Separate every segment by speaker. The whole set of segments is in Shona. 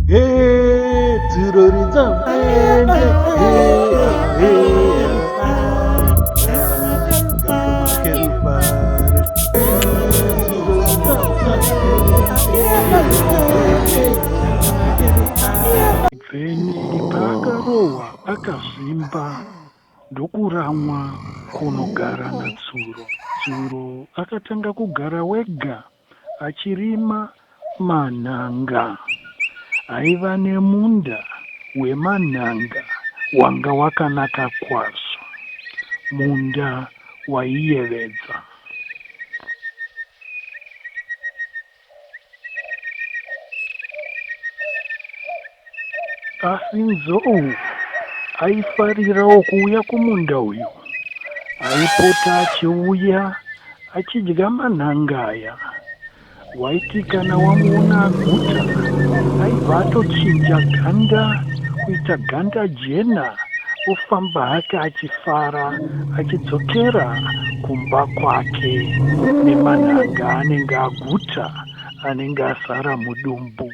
Speaker 1: Hey, akazvimba ndokuramwa kunogara natsuro tsuro akatanga kugara wega Achirima manhanga. Aiva nemunda wemanhanga wanga wakanaka kwazvo. Munda waiyevedza. Asi Nzou aifarirawo kuuya kumunda uyu. Aipota achiuya achidya manhanga aya. Waiti kana wamuona aguta aibva atochinja ganda kuita ganda jena ofamba hake achifara achidzokera kumba kwake nemanhanga anenge aguta anenge asara mudumbu.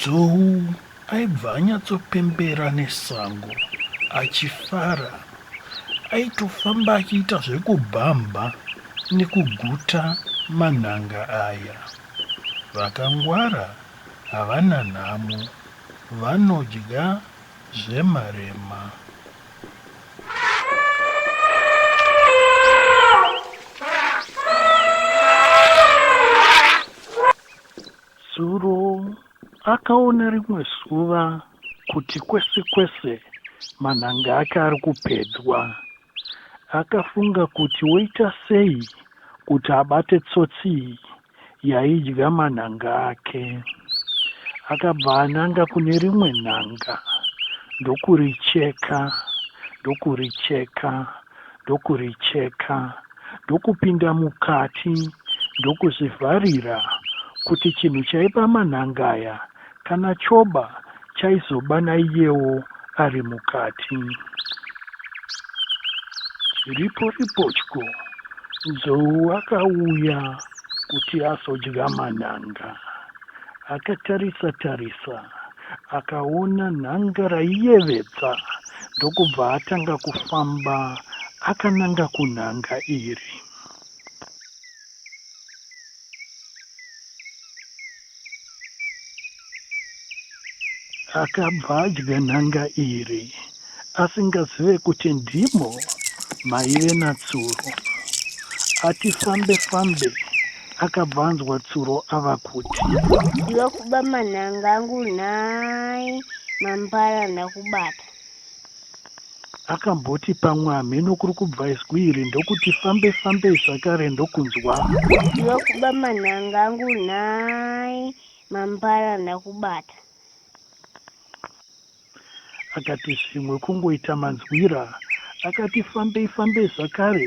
Speaker 1: Zhou aibva anyatsopembera nesango achifara. Aitofamba achiita zvekubhambha nekuguta manhanga aya. Vakangwara havana nhamo, vanodya zvemarema. akaona rimwe zuva kuti kwese kwese manhanga ake ari kupedzwa akafunga kuti woita sei kuti abate tsotsi iyi yaidya manhanga ake. Akabva ananga kune rimwe nhanga ndokuricheka ndokuricheka ndokuricheka ndokupinda mukati ndokuzvivharira kuti chinhu chaipa manhanga aya Kana choba chaizoba naiyewo ari mukati. Chiripo ripotyo, nzou akauya kuti azodya manhanga. Akatarisa tarisa akaona nhanga raiyevedza ndokubva atanga kufamba akananga kunhanga iri. Akabva adya nhanga iri asingazive kuti ndimo maive naTsuro. Ati fambe fambe akabva anzwa Tsuro ava kuti. Ndokuba manhanga angu nhai mambara ndakubata. Akamboti pamwe hamheno kuri kubva izwi iri ndokuti fambe fambei zvakare ndokunzwa. Ndokuba manhanga angu nhai mampara ndakubata. Akati zvimwe kungoita manzwira. Akati fambei fambei zvakare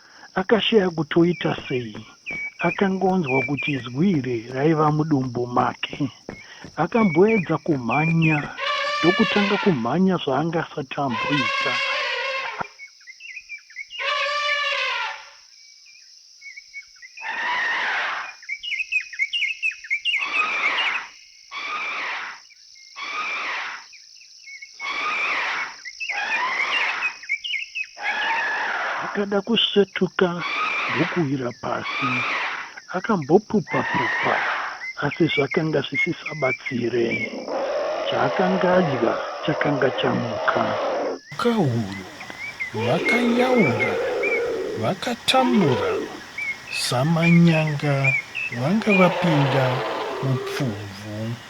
Speaker 1: Akashaya kuti oita sei. Akanga onzwa kuti zwi iri raiva mudumbu make. Akamboedza kumhanya ndokutanga kumhanya zvaanga asati amboita. Akada kusvetuka ndokuwira pasi. Akambopupa-pupa asi zvakanga zvisisabatsire. Chaakanga adya chakanga chamuka. Nyoka uyo, vakanyaura vakatambura samanyanga vanga vapinda mupfumvu.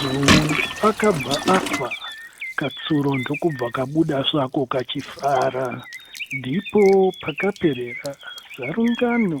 Speaker 1: Zungu akabva afa katsuro ndokubva kabuda svako kachifara. Ndipo pakaperera zarungano.